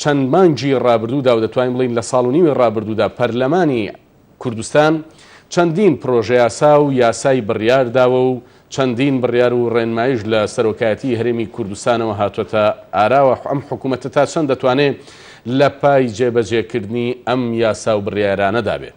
چەند مانگی ڕابردوودا و دەتوانین بڵێین لە ساڵ و نیوی ڕابردوودا پەرلەمانی کوردستان چەندین پرۆژەیاسا و یاسای بڕیار داوە و چەندین بڕیار و ڕێنمایش لە سەرۆکایەتیی هەرێمی کوردستانەوە هاتووەتە ئاراوە، ئەم حکوومەتە تا چەند دەتوانێت لە پای جێبەجێکردنی ئەم یاسا و بڕیارانەدا بێت؟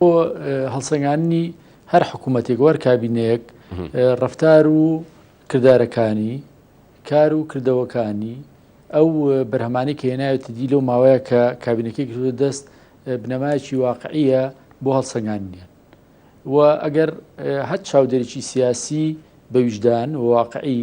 بۆ هەڵسەنگاندنی هەر حکوومەتێک وەر کابینەیەک ڕفتار و کردارەکانی کار و کردەوەکانی ئەو بەرهەمانی کە هێناوێتی دی لەو ماوەیە کە کابینەکەی گرتوە دەست بنەمایکی واقعیە بۆ هەڵسەنگانیان و ئەگەر هەر چاودێریی سیاسی بەویژدان واقعی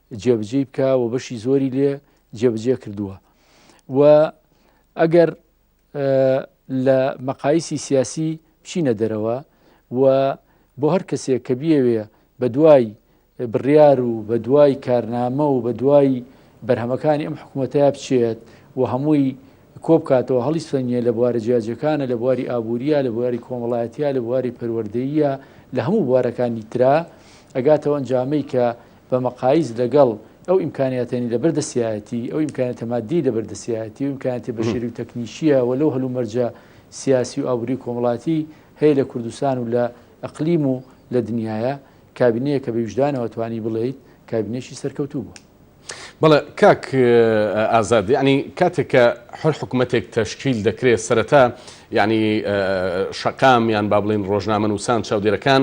جێبجێی بکە و بەشی زۆری لێ جێبجێ کردووە و ئەگەر لە مەقایسی سیاسی بچینە دەرەوە و بۆ هەر کەسێک کە بیەوێ بە دوای بڕیار و بە دوای کارنامە و بە دوای بەرهەمەکانی ئەم حکوومەتە بچێت و هەمووی کۆبکاتەوە هەڵی سەنگە لە بوارە جیاجەکانە لە بواری ئابووریە لە بواری کۆمەڵایەتە لە بواری پەروەردەیە لە هەموو بوارەکانی تررا ئەگاتەوە ئەنجامەی کە بە مەقاییس لەگەڵ ئەو ئیمکانیاتەی لەبەر دەستیایەتی، ئەو ئیمکانیاتە ماددیی لەبەر دەستیایەتی و ئیمکانیاتە بەشەری و تەکنیکییە و لەو هەلومەرجە سیاسی و ئابووری و کۆمەڵایەتی هەیە لە کوردستان و لە ئەقلیم و لە دنیایە، کابینەیە کە بە ویژدانەوە توانی بڵێیت کابینەیەکی سەرکەوتوو بووە. بەڵێ کاک ئازاد، یەعنی کاتێک کە هەر حکومەتێک تەشکیل دەکرێت سەرەتا یەعنی شەقام یان با بڵێین ڕۆژنامەنووسان، چاودێرەکان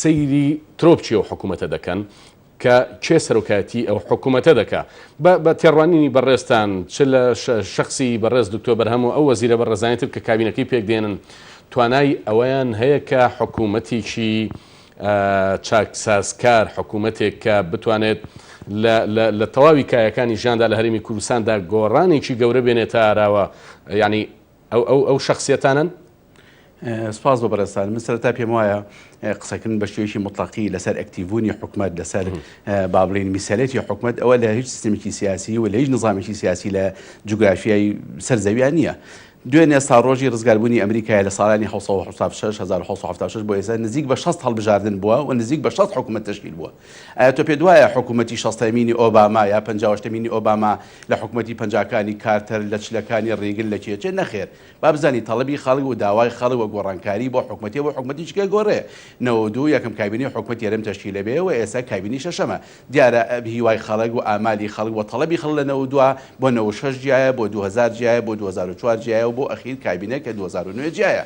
سەیری ترۆپکی ئەو حکوومەتە دەکەن کە کێ سەرۆکایەتیی ئەو حکوومەتە دەکا. بە بە تێڕوانینی بەڕێزتان چ لە شەخسی بەڕێز دوکتۆر بەرهەم و ئەو وەزیرە بەڕێزانەی تر کە کابینەکەی پێک دێنن توانای ئەوەیان هەیە کە حکوومەتێکی چاکسازکار، حکوومەتێک کە بتوانێت لە لە لە تەواوی کایەکانی ژیاندا لە هەرێمی کوردستاندا گۆڕانێکی گەورە بێنێتە ئاراوە یەعنی ئەو ئەو ئەو شەخسیەتانەن. سپاس بۆ بەڕێزتان من سەرەتا پێم وایە قسەکردن بە شێوەیەکی مطلقی لەسەر ئەکتیڤبوونی حکومەت لەسەر با بڵین میسەلێتی حکومەت ئەوە لە هیچ سیستمێکی سیاسی و لە هیچ نظامێکی سیاسی لە جوگرافیای سەر زەویان نییە دوێن ئێستا ڕۆژی ڕزگاربوونی ئەمریکای لە ساڵانی 1970 1970 بۆ ئێستا نزیک بە 6 هەڵبژاردن بووە و نزیک بە 6 حکومەت تشکیل بووە ئایا تۆ پێت وایە حکوومەتی شەستەمینی ئۆباما یا پەنجاوەشتەمینی ئۆباما لە حکوومەتی پەنجاکانی کارتەر لە چلەکانی ڕیگن لە چێ چێ؟ نەخێر. با بزانین تەڵەبی خەڵک و داوای خەڵک و گۆڕانکاری بۆ حکوومەتێ بۆ حکوومەتیش کێ گۆڕێ؟ نەوەد و دوو یەکەم کابینەی حکوومەتی هەرێم تەشکیل ئەبێ و ئێستا کابینەی شەشەمە. دیارە هیوای خەڵک و ئامالی خەڵک و تەڵەبی خەڵک لە نەوەد و دوو بۆ نەوەد و شەش جیایە، بۆ دوو هەزار جیایە، بۆ دوو هەزار و چوار جیایە و بۆ ئەخیر کابینە کە دوو هەزار و نۆ جیایە.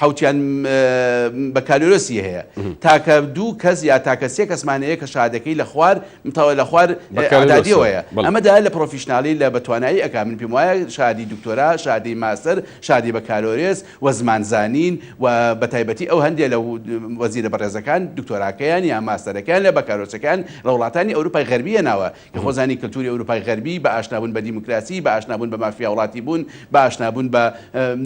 حەوتیان بەکالۆرۆسی هەیە تاکە دوو کەس یا تاکە سێ کەسمان هەیە کە شادەکەی لە خوار متەوە لە خوار ئەدادیەوەیە ئەمە دا لە پرۆفیشنناڵی لە بەتوانایی ئەک من پێم وایە شادی دکتۆرا شادی ماسەر شادی بەکالۆرێس و زمانزانین و بەتایبەتی ئەو هەندێک لە وەزیرە بەڕێزەکان دکتۆراکەیان یا ماسەرەکەیان لە بەکارۆسەکان لە وڵاتانی ئەوروپای غەربیە ناوە لە خۆزانی کلتوری ئەوروپای غەربی، بە ئاشنابوون بە دیموکراسی، بە ئاشنابوون بە مافیاوڵاتی بوون، بە ئاشنابوون بە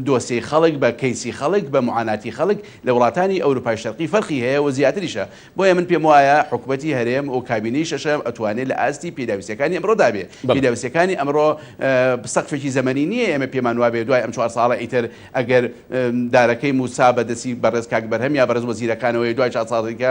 دۆسیەی خەڵک، بە کەیسی خەڵک، بە معاناتی خەڵک، لە وڵاتانی ئەوروپای شەرقی فەرقی هەیە و زیاتریشە. بۆیە من پێم وایە حکومەتی هەرێم و کابینەی شەشەم ئەتوانێ لە ئاستی پێداویستیەکانی ئەمڕۆدا بێ. پێداویستیەکانی ئەمڕۆ سەقفێکی زەمەنی نیە ئێمە پێمان وابێ دوای ئەم چوار ساڵە ئیتر ئەگەر دارەکەی مووسا بە دەستی بەڕێز کاک بەرهەم یا بەڕێز وەزیرەکانەوەیە دوای چار ساڵ دیکە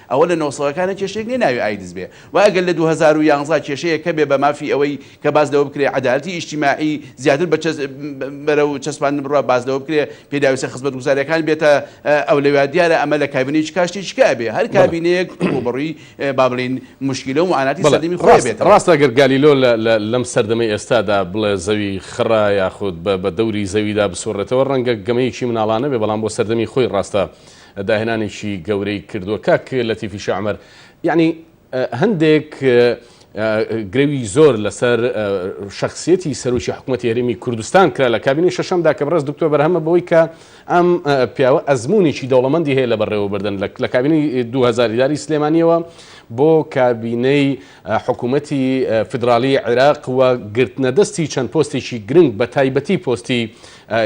ئەوە لە نۆ سەدەکانە کێشەیەک نیە ناوی ئایدز بێ وە ئەگەر لە دوو هەزار و یازدە کێشەیەک هەبێ بە مافی ئەوەی کە باس لەوە بکرێ عەدالەتی ئیجتیماعی زیاتر بە چەس بەرە و چەسپاندن بڕا باس لەوە بکرێ پێداویستە خزمەت گوزاریەکان بێتە ئەولەویا دیارە ئەمە لە کابینەی چ کا شتێکی کا ئەبێ هەر کابینەیەک ڕووبەڕووی با بڵێین موشکیلە و معاناتی بەڵێ سەردەمی خۆی ڕاست بێتەوە. ڕاستە گەر گالیلۆ لە لە لەم سەردەمەی ئێستا دا بڵێ زەوی خڕە یاخود بە بە دەوری زەوی دا بسوڕێتەوە ڕەنگە گەمەیەکی مناڵانە بێ بەڵام بۆ سەردەمی خۆی ڕاستە داهێنانێکی گەورەی کردووە کاک لەتیفی شەعمەر یعنی هەندێک گرەوی زۆر لەسەر شخصیەتی سەرۆکی حکوومەتی هەرمی کوردستان کرا لە کابینی شەشەمدا کە بڕست دکتۆر بەرهەمە بەوەی کە ئەم پیاوە ئەزمونێکی دەوڵەمەندی هەیە لە بەڕێوەبردن لە کابینی 2000 داری سلێمانیەوە بۆ کابینەی حکومەتی فیدراڵیی عێراق و گرتنەدەستی چەند پۆستێکی گرنگ بە تایبەتی پۆستی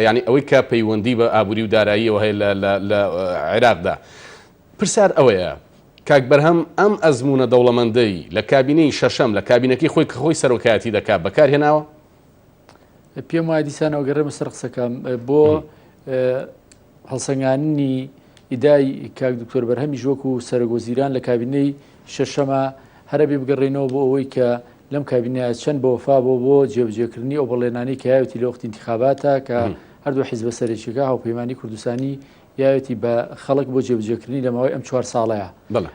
یانی ئەوەی کە پەیوەندی بە ئابووری و داراییەوە هەیە لە لە لە عێراقدا پرسیار ئەوەیە کاک بەرهەم ئەم ئەزموونە دەوڵەمەندەی لە کابینەی شەشەم لە کابینەکەی خۆی کە خۆی سەرۆکایەتی دەکات بەکار هێناوە؟ پێم وایە دیسانەوە گەڕێمە سەر قسەکەم بۆ هەڵسەنگاندنی ئیدای کاک دکتۆر بەرهەمیش وەکو سەرۆک وەزیران لە کابینەی شەشەمە هەرەبێ بگەڕێنەوە بۆ ئەوەی کە لەم کابینەیە چەند بە وەفا بۆ بۆ جێبجێکردنی ئەو بەڵێنانی کە یاوێتی لە وەخت انتخاباتە کە هەردوو حیزبە سەرێکیەکە هاوپەیمانانی کوردستانی یاوێتی بە خەڵک بۆ جێبجێکردنی لە ماوەی ئەم چوار ساڵەیە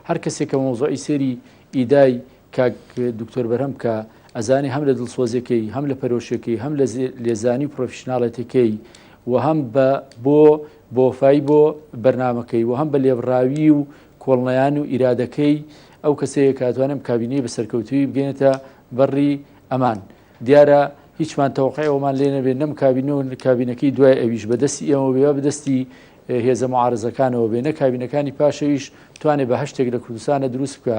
هەر کەسێک کە مۆزۆی سێری ئیدای کاک دکتۆر بەرهەم کە ئەزانێ هەم لە دڵسۆزیەکەی هەم لە پەرۆشەکەی هەم لە لێزانی و پرۆفیشنناڵێتەکەی و هەم بە بۆ بۆفای بۆ بەرنمەکەی و هەم بە لێبڕاوی و کۆڵنیان و ئیرادەکەی ئەو کەسەیە کاتوانم کابینەی بە سەرکەوتوی بگەێنێتە بەڕی ئەمان دیارە هیچمان تەوقعەوەمان لێ نەبێت نەم کابینە و کابینەکەی دوای ئەویش بەدەستی ئێمە بێ بەدەستی هێزە معارزەکانەوە بێ نە کابینەکانی پاشەویش توانێت بە هەشتێک لە کوردستانە دروست بکە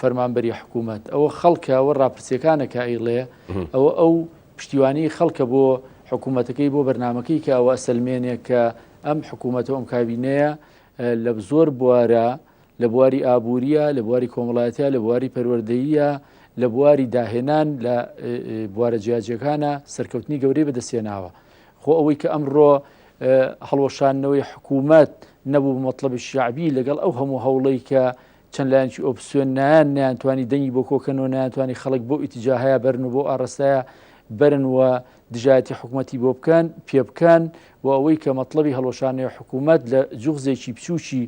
فەرمانبەری حکوومەت ئەوە خەڵکە ئەوە راپرسیەکانە کە ئەیڵێ ئەوە ئەو پشتیوانی خەڵکە بۆ حکوومەتەکەی بۆ بەرنمەکەی کە ئەوە سلمێنێ کە ئەم حکوومەتە ئەم کابینەیە لە زۆر بوارە لە بواری ئابووریە لە بواری کۆمەڵایەتە لە بواری پەروەردەیە لە بواری داهێنان لە بوارە جیاجیەکانە سەرکەوتنی گەورەی بەدەستێناوە خۆ ئەوەی کە ئەمڕۆ هەڵوەشانەوەی حکوومەت نەبوو مەطلبی شعبی لەگەڵ ئەو هەموو هەوڵی کە چەند لایەنکی ئۆپسیۆن نایان نیانتوانی دەنگی بۆ کۆکەنەوە نیانتوانی خەڵک بۆ ئیتیجاهەیە بەرن و بۆ ئاڕستەیە بەرن و دژایەتی حکوومەتتی بۆ بکەن پێ بکەن و ئەوەی کە مەطلبی هەڵۆشانەیە حکوومەت لە جوغزێکی بچووکی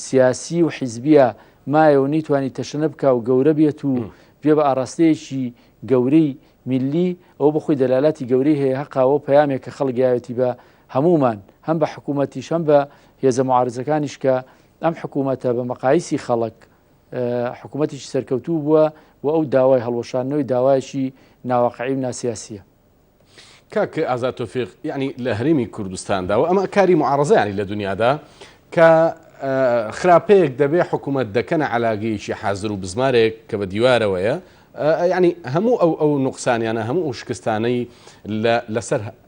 سیاسی و حیزبیە مایەوە نیتوانی تەشەنە بک و گەورە بێت و بێ بە ئاراستەیەکی گەورەی میلی ئەو بخۆی دەلالاتی گەورەی هەیە هەقاوە پامێک کە خەڵگایەتی بە هەمومان هەم بە حکوومەتیش هەم بە هێزە معارزەکانیش کە ئەم حکوومەتە بە مەقایسی خەڵک حکوومەتیی سەرکەوتوو بووە و ئەو داوای هەڵوەشانەوەی داوایشی ناوەقعی و ناسیاسیە. کاک ئازاد تۆفیق یعنی لە هەرێمی کوردستاندا و ئەمە کاری معارزەیانی لە دنیادا کە خراپەیەک دەبێ حکوومەت دەکەنە علاگەیەکی حازر و بزمارێک کە بە دیوارەوەیە ینی هەموو ئەو ئەو نقصانیانە هەموو ئەو شکستانەی لەسەر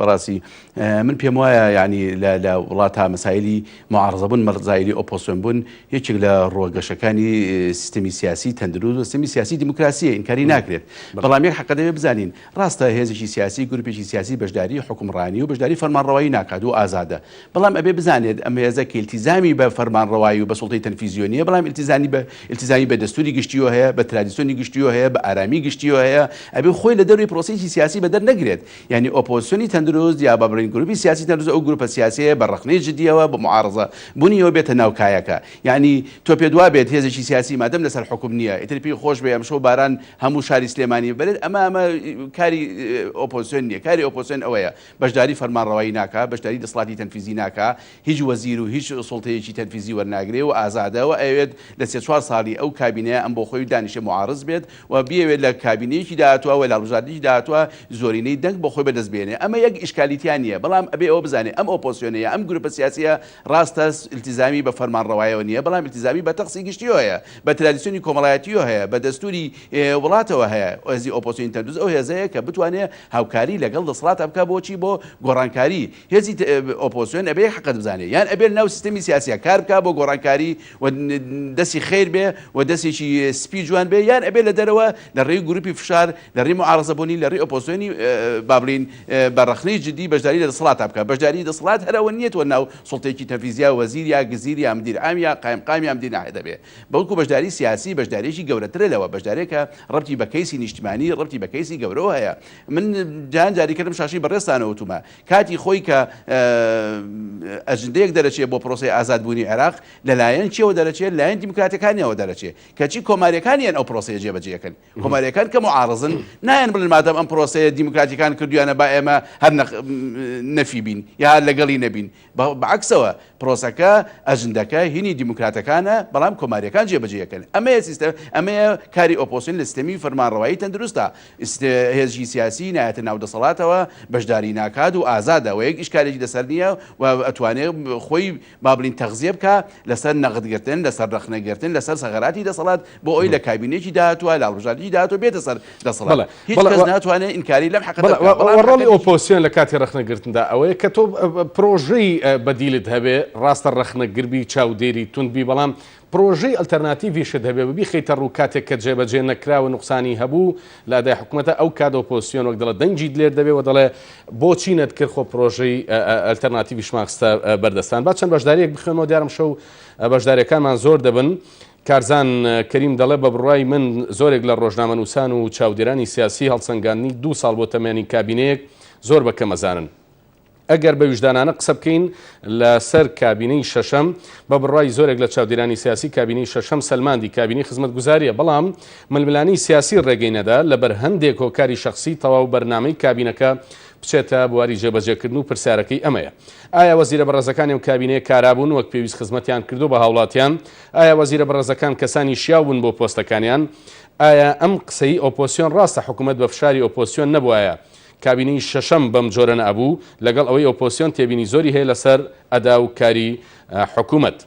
بەڕاستی من پێم وایە یانی لە وڵاتە مەسایلی معارزەبوون مەرزایلی ئۆپۆسیۆن بوون یەکێک لە ڕۆگەشەکانی سیستمی سیاسی تەندروست و سیستمی سیاسی دیموکراسیە ئینکاری ناکرێت بەڵام یەک حەقە دەوێت بزانین ڕاستە هێزێکی سیاسی گروپێکی سیاسی بەشداری حکومڕانی و بەشداری فەرمانڕەوایی ناکات و ئازادە بەڵام ئەبێ بزانێت ئەم هێزە کە ئیلتیزامی بە فەرمانڕەوایی و بە سوڵتەی تەنفیزیۆ نییە، بەڵام ئیلتیزامی بە ئیلتیزامی بە دەستووری گشتییۆ هەیە، بە ترادیسیۆنی گشتییۆ هەیە، بە ئارامیی گشتییۆ هەیە، ئەبێ خۆی لە دەرەوەی پرۆسەیەکی سیاسی بە دەر نەگرێت، یانی ئۆپۆزسیۆنی تەندروست یا با بڵێین گرووپی سیاسی تەندروست ئەو گرووپە سیاسییەیە بە ڕەخنەی جدییەوە بە موعارەزە بوونییەوە بێتە ناو کایەکە، یانی تۆ پێت وا بێت هێزێکی سیاسی مادەم لە سەر حوکم نییە ئیتر پێی خۆش بێ ئەمشەو باران هەموو شاری سلێمانی ببەرێت ئەمە ئەمە کاری ئۆپۆزسیۆن نییە، کاری ئۆپۆزسیۆن ئەوەیە بەشداری فەرمانڕەوایی ناکا، بەشداری دەسڵاتی تەنفیزی ناکا، هیچ وەزیر و هیچ سوڵتەیەکی تەنفیزی وەرناگرێ و ئازادە و ئەیەوێت لە سێ چوار ساڵی ئەو کابینەیە ئەم بۆ خۆی دانیشێ موعاڕز بێت و بیەوێت لە کابینەیەکی داهاتووە و لە هەڵبژاردنێکی داهاتووە زۆرینەی دەنگ بۆ خۆی بەدەست بێنێ ئەمە یەک ئیشکالی تیا نییە بەڵام ئەبێ ئەوە بزانێ ئەم ئۆپۆسیۆنە یا ئەم گروپە سیاسیە ڕاستە ئیلتیزامی بە فەرمانڕەوایەوە نییە بەڵام ئیلتیزامی بە تەخسی گشتیەوە هەیە بە ترادیسیۆنی کۆمەڵایەتیەوە هەیە بە دەستوری وڵاتەوە هەیە هێزی ئۆپۆسیۆنی تەندوز ئەو هێزەیە کە بتوانێ هاوکاری لەگەڵ دەسەڵات ئەبکا بۆ چی بۆ گۆڕانکاری هێزی ئۆپۆسیۆن ئەبێ حەقت بزانێ یان ئەبێ لەناو سیستەمی سیاسیا کار بکا بۆ گۆڕانکاری و دەسی خیر بێ و دەسێکی سپی جوان بێ یان ئەبێ لە دەرەوە لە ڕێی گروپی فشار لە ڕێی معارەزە بۆنی لە ڕێی ئۆپۆسیۆنی با بڵێین بە ڕەخنەی جدی بەشداری لە دەسەڵاتا بکا بەشداری دەسەڵات هەر ئەوە نیە تۆ ناو سوڵتەیەکی تەنفیزیا وەزیر یا گزیر یا مدیر عام یا قایمقام یا مدیر ناحیە دەبێ بەڵکو بەشداری سیاسی بەشداریەکی گەورەترە لەوە، بەشدارێکە ڕەبتی بە کەیسی نیشتمانی، ڕەبتی بە کەیسی گەورەوە هەیە. من جان جاری کردم شاشەی بەڕێزتانەوە وتومە، کاتی خۆی کە ئەجندەیەک دەرەچێ بۆ پرۆسەی ئازاد بوونی عێراق، لەلایەن کێوە دەرەچێ؟ لەلایەن دیموکراتەکانیەوە دەرەچێ، کەچی کۆماریەکانیان ئەو پرۆسەیە جێبەجێ ئەکەن. کۆماریەکان کە موعارەزن نایەن بڵێن مادام ئەم پرۆسەیە دیموکراتیەکان کردویانە با ئێمە هەر نەفی بین یا هەر لەگەڵی نەبین بەعکسەوە پرۆسەکە ئەجندەکە هینی دیموکراتەکانە بەڵام کۆماریەکان جێبەجێەکەن ئەمەیە سیستە ئەمەیە کاری ئۆپۆسین لە سیستەمی فەرمانڕەوایی تەندروستە هێزی سیاسی نایەتە ناو دەسەڵاتەوە بەشداری ناکات و ئازادەوە یەک ئیشکالێکی لەسەر نییە و ئەتوانێت خۆی با بڵین تەغزیە بکا لەسەر نەغد گرتن، لەسەر رەخنە گرتن، لەسەر سەغەراتی دەسەڵات، بۆ ئەوەی لە کابینەیەکی داهاتووە، لە هەڵبژاردنی داهاتووە بێتە سەر دەسەڵات. هیچ کەس ناتوانێ ئینکاری لەم حەقەتە بکا. بەڵام حەقەکەی. رۆڵی ئۆپۆزسیۆن لە کاتی رەخنە گرتندا ئەوەیە کە تۆ پرۆژەی بەدیلت هەبێ، راستە رەخنەگر بی، چاودێری توند بی، بەڵام پڕۆژەی ئەلتەرناتیڤیشت هەبێ ببیخەیتە ڕوو کاتێک کە جێبەجێ نەکرا و نوقسانی هەبوو لە ئەدای حکومەتە ئەو کات ئۆپۆزسیۆن وەک دەڵێ دەنگی دلێر دەبێ و دەڵێ بۆچی نەتکرد خۆ پڕۆژەی ئەلتەرناتیڤیشمان خستە بەر دەستان با چەند بەشدارییەک بخوێنمەوە دیارم شەو بەشداریەکانمان زۆر دەبن کارزان کەریم دەڵێ بە بڕای من زۆرێک لە ڕۆژنامەنووسان و چاودێرانی سیاسی هەڵسەنگاندنی دوو ساڵ بۆ تەمێنی کابینەیەک زۆر بە کەمەزانن ئەگەر بە ویژدانانە قسە بکەین لە سەر کابینەی شەشەم بە بڕوای زۆرێک لە چاودێرانی سیاسی کابینەی شەشەم سەلماندی کابینەی خزمەتگوزاریە بەڵام ململانێی سیاسی ڕێگەی نەدا لە بەر هەندێک هۆکاری شەخسی تەواو بەرنامەی کابینەکە بچێتە بواری جێبەجێکردن و پرسیارەکەی ئەمەیە ئایا وەزیرە بەڕێزەکانی و کابینەیە کارابوون وەک پێویست خزمەتیان کردو بە هاوڵاتیان ئایا وەزیرە بەڕێزەکان کەسانی شیاو بوون بۆ پۆستەکانیان ئایا ئەم قسەی ئۆپۆسیۆن ڕاستە حکوومەت بە فشاری ئۆپۆسیۆن نەبوایە کابینەی شەشەم بەم جۆرە نەئەبوو، لەگەڵ ئەوەی ئۆپۆسیۆن تێبینی زۆری هەیە لەسەر ئەدا و کاری حکومەت.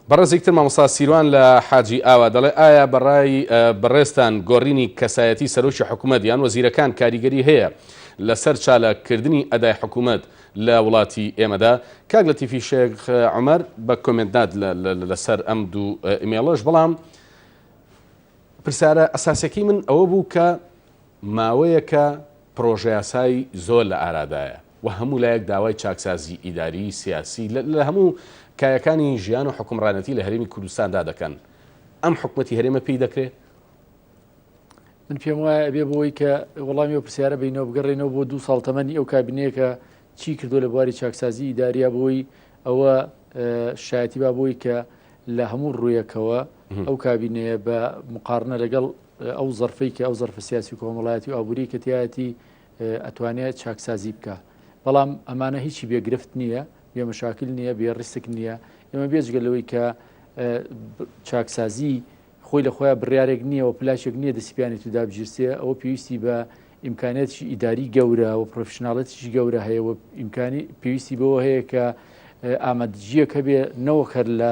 بەڕێزێکی تر مامۆستا سیروان لە حاجی ئاوا دەڵێ ئایا بە ڕای بەڕێزتان گۆڕینی کەسایەتی سەرۆکی حکومەت یان وەزیرەکان کاریگەری هەیە لەسەر چالاک کردنی ئەدای حکومەت لە وڵاتی ئێمەدا؟ کاک لەتیفی شێخ عومەر بە کۆمێنت نات لەسەر ئەم دوو ئیمێڵەش بەڵام پرسیارە ئەساسیەکەی من ئەوە بوو کە ماوەیەکە پڕۆژەیاسای زۆر لە ئارادایە و هەموو لایەک داوای چاکسازیی ئیداری، سیاسی لە هەموو کایەکانی ژیان و حوکمڕانەتی لە هەرێمی کوردستاندا دەکەن، ئەم حکومەتی هەرێمە پێی دەکرێ؟ من پێم وایە ئەبێ بۆی کە وەڵامی ئەو پرسیارە بینەوە بگەڕێنەوە بۆ دوو ساڵ تەمەنی ئەو کابینەیەکە چی کردو لە بواری چاکسازی ئیداریا بۆی ئەوە شایەتی با بۆی کە لە هەموو ڕوویەکەوە ئەو کابینەیە بە مقارنە لەگەڵ ئەو زەرفەی کە ئەو زەرفە سیاسی و کۆمەڵایەتی و ئابووری کە تایەتی ئەتوانێت چاکسازی بکە بەڵام ئەمانە هیچی بێگرفت نییە بێ مەشاکل نییە بێ ڕیسک نییە ئێمە بێجگە لەوەی کە چاکسازی خۆی لە خۆیان بڕارێک نییە و پلاشێک نییە دەسیپیانی تودا بگیرسێ ئەوە پێویستی بە ئیمکانێتی ئیداری گەورە و پرۆفشنناڵەتیش گەورە هەیە و ئیمکانی پێویستی بەوە هەیە کە ئامادجییەک هەبێ نەوەکەر لە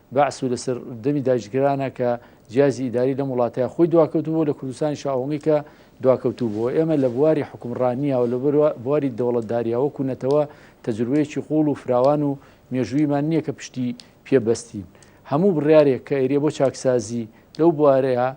بەعس و لەسەر دەمی داگیرکەرانە کە جیازی ئیداری لەم وڵاتەیە خۆی دواکەوتبوو لە کوردستانیش ئەوەنگی کە دواکەوتوو بوو ئێمە لە بواری حکومڕانیەوە لە بواری دەوڵەتداریەوە کوونەتەوە تەجروبەیەکی قوڵ و فراوان و مێژوویمان نییە کە پشتی پێبەستین هەموو بڕارێک کە ئێریە بۆ چاکسازی لەو بوارەیە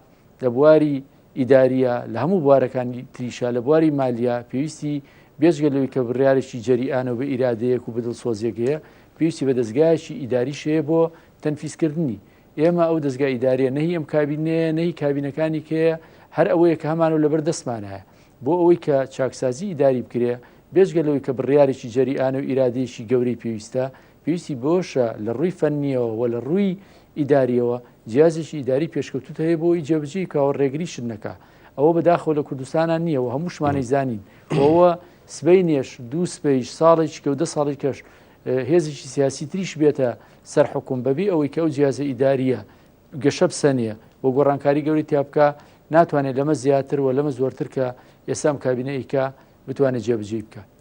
لە بواری ئیدارییە، لە هەموو بوارەکانی تریشا، لە بواری مالییە، پێویستی بێجگە لەوەی کە بڕیارێکی جەریئانە و بە ئیرادەیەک و بە دڵسۆزییەک هەیە، پێویستی بە دەزگایەکی ئیداریش هەیە بۆ تەنفیزکردنی. ئێمە ئەو دەزگا ئیدارییە نە هی ئەم کابینەیە، نە هی کابینەکانی کە هەیە، هەر ئەوەیە کە هەمانە و لەبەر دەستمانایە. بۆ ئەوەی کە چاکسازیی ئیداری بکرێ، بێجگە لەوەی کە بڕیارێکی جەریئانە و ئیرادەیەکی گەورەی پێویستە، پێویستی بەوەشە لە ڕووی فەننیەوە و لە ڕووی ئیداریەوە جیازێکی ئیداری پێشکەوتوت هەیە بۆی جێبجی کاوە ڕێگری شت نەکە ئەوە بەداخەوە لە کوردستانان نییە و هەمووشمانەی زانین ئەوە سبەی نێش دوو سپەیش ساڵێکی کە و دە ساڵی کەش هێزێکی سیاسی تریش بێتە سەر حکوم بەبی ئەوەی کە ئەو جیازە ئیداریە گەشە بسەنێ و گۆڕانکاری گەوری تیاابکە ناتوانێت لەمە زیاتر و لەمە زۆرتر کە ئێسام کابینەیکە بتوانێت جێبجێ بکە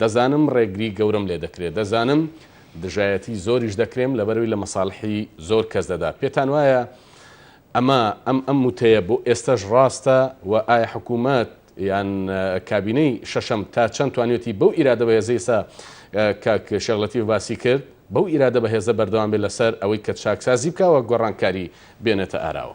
دەزانم ڕێگری گەورەم لێ دەکرێت، دەزانم دژایەتی زۆریش دەکرێم لەبەرەوەی لە مەسالحی زۆر کەس دەدا، پێتان وایە ئەمە ئەم ئەم وتەیە بۆ ئێستەش ڕاستە و ئایا حکوومەت یان کابینەی شەشەم تا چەند توانیوێتی بەو ئیرادە بەهێزەی ئێستا کاک شێخ لەتیف باسی کرد بەو ئیرادە بەهێزە بەردەوام بێت لەسەر ئەوەی کە چاکسازی بکا و گۆڕانکاری بێنێتە ئاراوە؟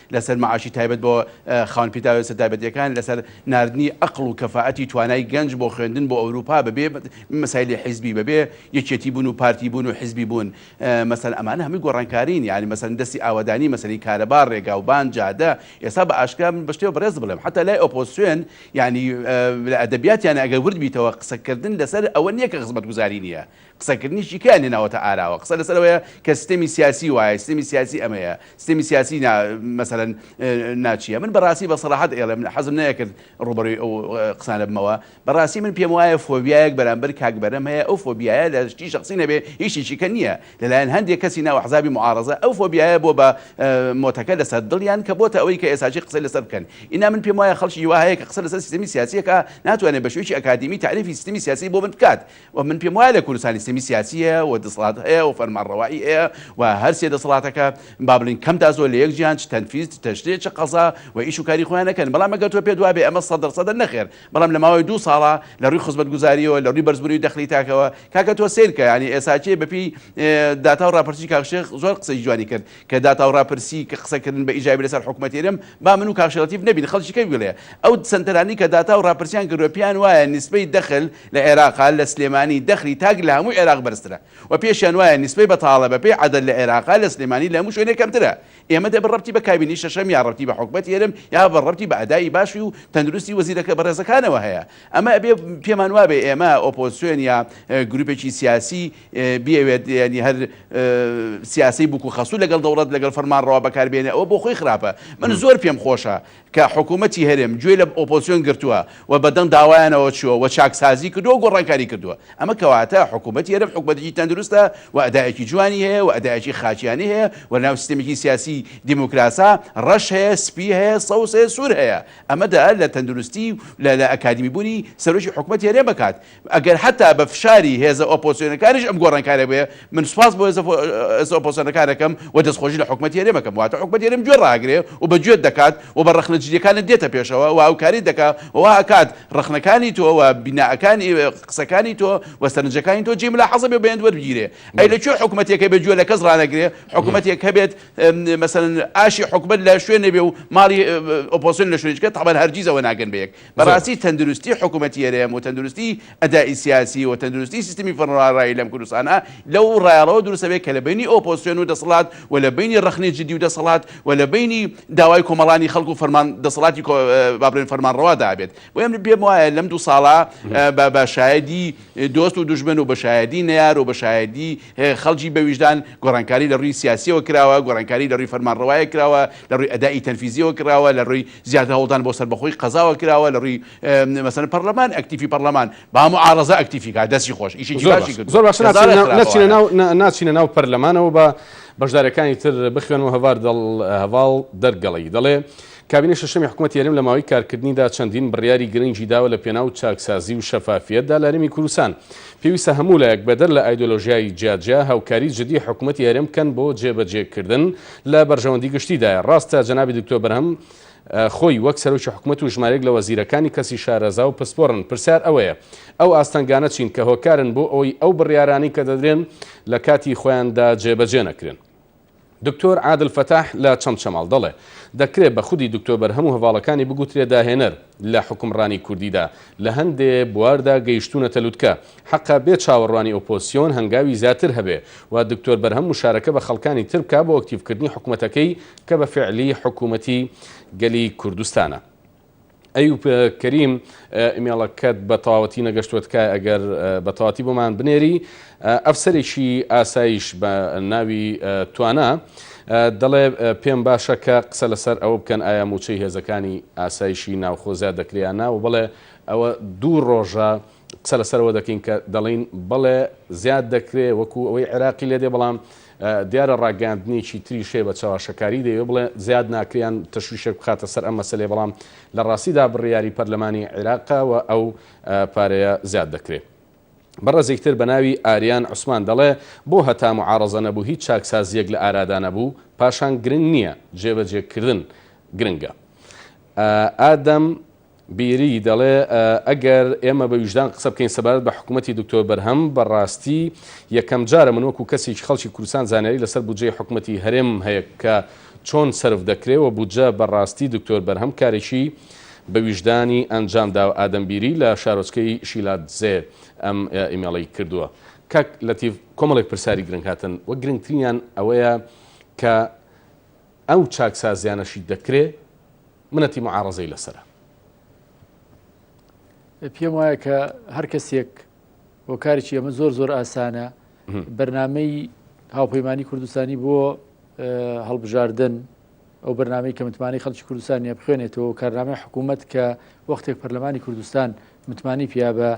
لەسەر مەعاشی تایبەت بۆ خاوەن پیداوێسە تایبەتیەکان، لەسەر ناردنی ئەقڵ و کەفائەتی توانای گەنج بۆ خوێندن بۆ ئەوروپا بەبێ مەسایلی حیزبی، بەبێ یەکێتی بوون و پارتی بوون و حیزبی بوون، مەسەن ئەمانە هەمووی گۆڕانکارین، یانی مەسەن دەستی ئاوەدانی، مەسەلەی کارەبا، ڕێگاوبان، جادە، ئێستا بە ئاشکرا من بە شتێ بەڕێز بڵێم حەتا لای ئۆپۆزسیۆن یانی لە ئەدەبیاتیانە ئەگەر ورد بیتەوە قسەکردن لەسەر ئەوە نیە کە خزمەتگوزاری نیە، قسەکردنی شیکەیان هێناوەتە ئاراوە، قسە لەسەر ئەوەیە کە سیستەمی سیاسی وایە، سیستەمی سیاسی ئەمەیە، سیستەمی سیاسی نا مەسەلەن نا چییە. من بەڕاستی بە سەراحەت ئێڵێم، حەزم نەئەکرد ڕووبەڕووی ئەو قسانە بمەوە، بەڕاستی من پێم وایە فۆبیایەک بەرامبەر کاک بەرەم هەیە، ئەو فۆبیایە لە شتی شەخسی نەبێ هیچ شتێکی کە نییە، لەلایەن هەندێ کەسی ناو ئەحزابی موعاڕەزە ئەو فۆبیایە بووە بە مۆتەکە لەسەر دڵیان کە بۆتە ئەوەی کە ئێساچی قسەی لەسەر بکەن. ئینا من پێم وایە خەڵکی وا هەیە کە قسە لەسەر سیستەمی سیاسی ئەکا ناتوانێ بە شێوەیەکی ئەکادیمی تەعریفی سیستەمی سیاسی بۆ من بکات، و من پێم وایە لە کوردستان سیستەمی سیاسی هەیە و دەسەڵات هەیە و فەرمانڕەوایی هەیە و هەر سێ دەسەڵاتەکە با بڵێین کەم تا زۆر لە یەک جیان چ تەنفیز چ تەشریع چ قەزا و ئیش و کاری خۆیان ئەکەن بەڵام ئەگەر تۆ پێت وابێ ئەمە سەد دەر سەدە نەخێر بەڵام لە ماوەی دوو ساڵە لە ڕووی خزمەتگوزاریەوە لە ڕووی بەرزبوونەوی دەخلی تاکەوە کاکە تۆ سەیرکە یانی ئێساکێ بە پێی داتا و ڕاپرسی کاک شێخ زۆر قسەی جوانی کرد کە داتا و راپرسی کە قسە کردن بە ئیجابی لەسەر حکومەتی هەرێم با من و کاک شێخ لەتیف نەبین خەڵکی کەی ویڵێ ئەو سەنتەرانەی کە داتا و راپرسیان کردوە پێیان وایە نیسبەی دەخل لە عێراقا لە سلێمانی دەخلی تاک لە هەموو عێراق بەرزترە و پێشیان وایە نیسبەی بەتاڵە بەپێی عەدەد لە عێراقا لە سلێمانی لە هەموو شوێنێ کەمترە ئێمە دەبن رەبتی بە کابینەی شەشەم یا رەبتی بە حکومەتی هەرێم یا بە رەبتی بە ئەدائی باشی و تەندروستی وەزیرەکە بەڕێزەکانەوە هەیە ئەمە ئەبێ پێمان وابێ ئێمە ئۆپۆزسیۆن یا گروپێکی سیاسی بیەوێت یانی هەر سیاسی بوک و خەسوو لەگەڵ دەوڵەت لەگەڵ فەرمانڕەوا بەکار بێنێ ئەوە بۆ خۆی خراپە من زۆر پێم خۆشە کە حکوومەتی هەرێم گوێ لە ئۆپۆزسیۆن گرتووە و بەدەنگ داوایانەوە چووە و چاکسازی کردووە و گۆڕانکاری کردووە ئەمە کەواتە حکوومەتی هەرێم حکوومەتێکی تەندروستە و ئەدایەکی جوانی هەیە و ئەدایەکی خاکیانی هەیە و لەناو سیستمێکی سیاسی دیموکراسا ڕەش هەیە سپی هەیە سەوز هەیە سوور هەیە ئەمە دەئەر لە تەندروستی و لە لە ئەکادیمی بوونی سەرۆکی حکوومەتی هەرێم بەکات ئەگەر حەتا بە فشاری هێزە ئۆپۆزسیۆنەکانیش ئەم گۆڕانکاریە بێ، من سوپاس بۆ هێزە ئۆپۆزسیۆنەکان ئەکەم و دەستخۆشی لە حکومەتی هەرێم ئەکەم، واتە حکومەتی هەرێم گوێ ڕاگرێ و بە گوێت دەکات و بە ڕەخنە جدیەکانت دێتە پێشەوە و هاوکاریت دەکا و وا ئەکات ڕەخنەکانی تۆ و بینائەکانی قسەکانی تۆ و سەرنجەکانی تۆ جێی ملاحەزە بێ و بەیەند وەربگیرێ. ئەی لە کوێ حکومەتێک هەبێ گوێ لە کەس ڕانەگرێ، حکومەتێک هەبێت مەسەلەن ئاشی حکومەت لە شوێنێ بێ و ماڵی ئۆپۆزسیۆن لە شوێنێ چکە تەبەن هەرگیز ئەوە ناگەن بە یەک، بەڕاستی تەندروستی حکومەتی هەرێم و تەندروستی ئەدائی سیاسی و تەندروستی سیستمی فەرمانڕەوایی لەم کوردستانە لەو ڕایەڵەوە دروست ئەبێت کە لە بەینی ئۆپۆزسیۆن و دەسەڵات و لە بەینی ڕەخنەی جدی و دەسەڵات و لە بەینی داوای کۆمەڵانی خەڵک و فەرمان دەسەڵاتی با بڵێن فەرمانڕەوادا ئەبێت بۆیە من پێم وایە لەم دوو ساڵە بە بە شایەدی دۆست و دوژمن و بە شایەدی نەیار و بە شایەدی خەڵکی بە ویژدان گۆڕانکاری لە ڕووی سیاسیەوە کراوە گۆڕانکاری لە ڕووی فەرمانڕەوایە کراوە لە ڕووی ئەدائی تەنفیزیەوە کراوە لە ڕووی زیاتر هەوڵدان بۆ سەربەخۆی قەزاوە کراوە لە ڕووی مەسەلەن پەڕلەمان ئەکتیفی پەڕلەمان با موعارەزە ئەکتیفی کا دەستی خۆش ئیشێکی زۆر باشی کردوە زۆر باشە کە زارە ناچینە خراپە ناچینە وایە. ناو نا- ناچینە ناو پەرلەمانەوە بە بەشدارەکانی تر بخوێنەوە هەڤار دڵ هەڤاڵ دەرگەڵی دەڵێ کابینەی شەشەمی حکومەتی هەرێم لە ماوەی کارکردنیدا چەندین بڕیاری گرنگی داوە لە پێناو چاکسازی و شەفافیەتدا لە هەرێمی کوردستان پێویستە هەموو لایەک بەدەر لە ئایدۆلۆژیای جیاجیا هاوکاری جدی حکومەتی هەرێم بکەن بۆ جێبەجێکردن لە بەرژەوەندی گشتیدایە. ڕاستە جەنابی دکتۆر بەرهەم خۆی وەک سەرۆکی حکومەت و ژمارێک لە وەزیرەکانی کەسی شارەزا و پسپۆڕن، پرسیار ئەوەیە ئەو ئاستەنگانە چین کە هۆکارن بۆ ئەوەی ئەو بڕیارانەی کە دەدرێن لە کاتی خۆیاندا جێبەجێ نەکرێن؟ دکتۆر عادل فەتاح لە چەمچەماڵ، دەڵێ، دەکرێ بە خودی دکتۆر بەرهەم و هەڤاڵەکانی بگوترێ داهێنەر، لە حوکمڕانی کوردیدا لە هەندێ بواردا گەیشتوونەتە لوتکە. حەقە بێ چاوەڕوانی ئۆپۆزسیۆن هەنگاوی زیاتر هەبێ و دکتۆر بەرهەم موشارەکە بە خەڵکانی تر بکا بۆ ئەکتیڤکردنی حکومەتەکەی کە بە فیعلی حکومەتی گەلی کوردستانە. ئەیوب کەریم ئیمێڵەکەت بە تەواوەتی نەگەشتووە تکایە ئەگەر بە تەواتی بۆمان بنێری. ئەفسەرێکی ئاسایش بە ناوی توانا دەڵێ پێم باشە کە قسە لەسەر ئەوە بکەن ئایا مووچەی هێزەکانی ئاسایشی ناوخۆ زیاد دەکرێ یان نا و بەڵێ ئەوە دوو ڕۆژە قسە لەسەرەوە دەکەین کە دەڵین بەڵێ زیاد دەکرێ وەکو ئەوەی عێراقی لێ دێ بەڵام دیارە ڕاگەاندنێکی تریش هەیە بە چاواشەکاری دەیە بڵێ زیاد ناکریان تەشویشێک بخاتە سەر ئەم مەسلێ بەڵام لە ڕاستیدا بڕیاری پەرلەمانی عێراقەوە ئەو پارەیە زیاد دەکرێت. بەڕێزێک تر بە ناوی ئاریان عوسمان دەڵێ بۆ هەتا معارەزە نەبوو هیچ چاکسازییەک لە ئارادا نەبوو؟ پاشان گرنگ نییە جێبەجێ کردن گرنگە. ئادەم بیری دەڵێ ئەگەر ئێمە بە ویژدان قسە بکەین سەبارەت بە حکومەتی دکتۆر بەرهەم بە ڕاستی یەکەم جارە من وەکو کەسێکی خەڵکی کوردستان زانیاری لەسەر بودجەی حکومەتی هەرێمم هەیە کە چۆن سەرف دەکرێ وە بودجە بە ڕاستی دکتۆر بەرهەم کارێکی بە ویژدانی ئەنجام داوە ئادەم بیری لە شارۆچکەی شیلادزێ ئەم ئیمێڵەی کردووە کاک لەتیف کۆمەڵێک پرسیاری گرنگ هاتن وە گرنگترینیان ئەوەیە کە ئەو چاکسازیانەشی دەکرێ منەتی معارەزەی لەسەرە. پێم وایە کە هەر کەسێک. هۆکارێکی ئەمە زۆر زۆر ئاسانە بەرنمەی هاوپەیمانانی کوردستانی بۆ هەڵبژاردن ئەو بەرنمەی کە متمانەی خەڵکی کوردستانە بخوێنێتەوە کارنامەی حکوومەت کە وەختێک پەرلەمانی کوردستان متمانەی پیا بە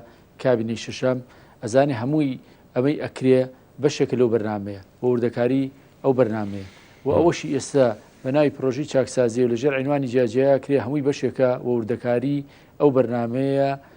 کابینی شەشەم ئەزانێ هەمووی ئەمەی ئەکرێ بەشێک لەو بەرنمەیە بۆ وردەکاری ئەو بەرنمەیە و ئەوەشی ئێستا بە ناوی پرۆژی چاکسازی و لەژێر عینوانی جیاجیا کرێ هەمووی بەشێکە و وردەکاری ئەو بەرنمەیە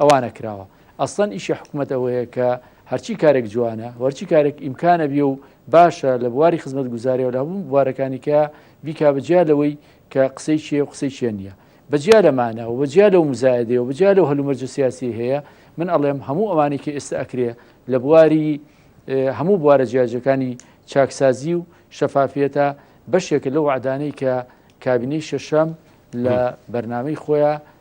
ئەوانە کراوە ئەسڵەن ئیشی حکومەت ئەوەیە کە هەرچی کارێک جوانە وەرچی کارێک ئیمکانە بێ و باشە لە بواری خزمەت گوزارەوە لە هەموو بوارەکانی کە بیکا بەجیا لەوەی کە قسەی چیە و قسەی چێن نییە بەجیا لەمانە و بەجیا لەو مزایدەیە و بەجیا لەو هەلومەرجە سیاسی هەیە من ئەڵێم هەموو ئەوانی کە ئێستا ئەکرێ لە بواری هەموو بوارە جیاجەکانی چاکسازی و شەفافیەتە بەشێکە لەو عدانەی کە کابینەی شەشەم لە بەرنمەی خۆیان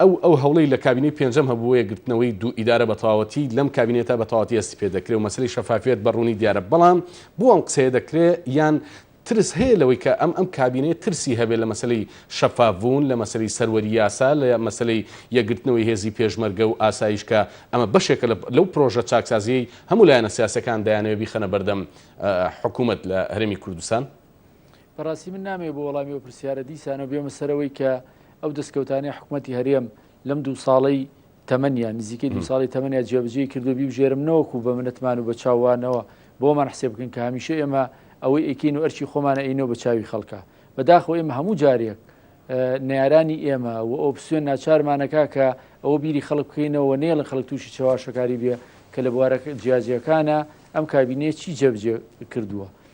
ئەو ئەو هەوڵەی لە کابینەی پێنجەم هەبوو بۆ یەکگرتنەوەی دوو ئیدارە بە تەواوەتی لەم کابینەیەتا بە تەواوەتی هەستی پێ دەکرێ و مەسەلەی شەفافیەت بە ڕوونی دیارە بەڵام بۆ ئەم قسەیە دەکرێ یان ترس هەیە لەوەی کە ئەم ئەم کابینەیە ترسی هەبێ لە مەسەلەی شەفاف بوون لە مەسەلەی سەروەری یاسا لە مەسەلەی یەکگرتنەوەی هێزی پێشمەرگە و ئاسایش کە ئەمە بەشێکە لەو پرۆژە چاکسازیەی هەموو لایەنە سیاسەکان دەیانەوێ بیخەنە بەردەم حکومەت لە هەرێمی کوردستان بەڕاستی من نامەوێ بۆ وەڵامی ئەو پرسیارە دیسانەوە بێمە سەرەوەی کە ئەو دەستکەوتانەی حکومەتی هەرێم لەم دوو ساڵەی تەمەنیان نزیکەی دوو ساڵی تەمەنیان جێبەجێی کردو بیبژێرم نەوەکو بە منەتمان و بە چاوانەوە بۆمان حسێب بکەن کە هەمیشە ئێمە ئەوەی ئەیکەین و ئەرکی خۆمان ئەینەوە بە چاوی خەڵکا بەداخەوە ئێمە هەموو جارێک نەیارانی ئێمە و ئۆپسیۆن ناچارمانەکا کە ئەوە بیری خەڵک بکەینەوە نێڵە خەڵک تووشی چەواشەکاری بێ کە لە بوارە جیاجیەکانە ئەم کابینەیە چی جەبجێ کردووە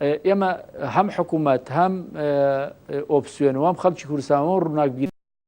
ئێمە هەم حکومەت هەم ئۆپسیۆن و هەم خەڵکی کوردستان و ڕووناکبیران.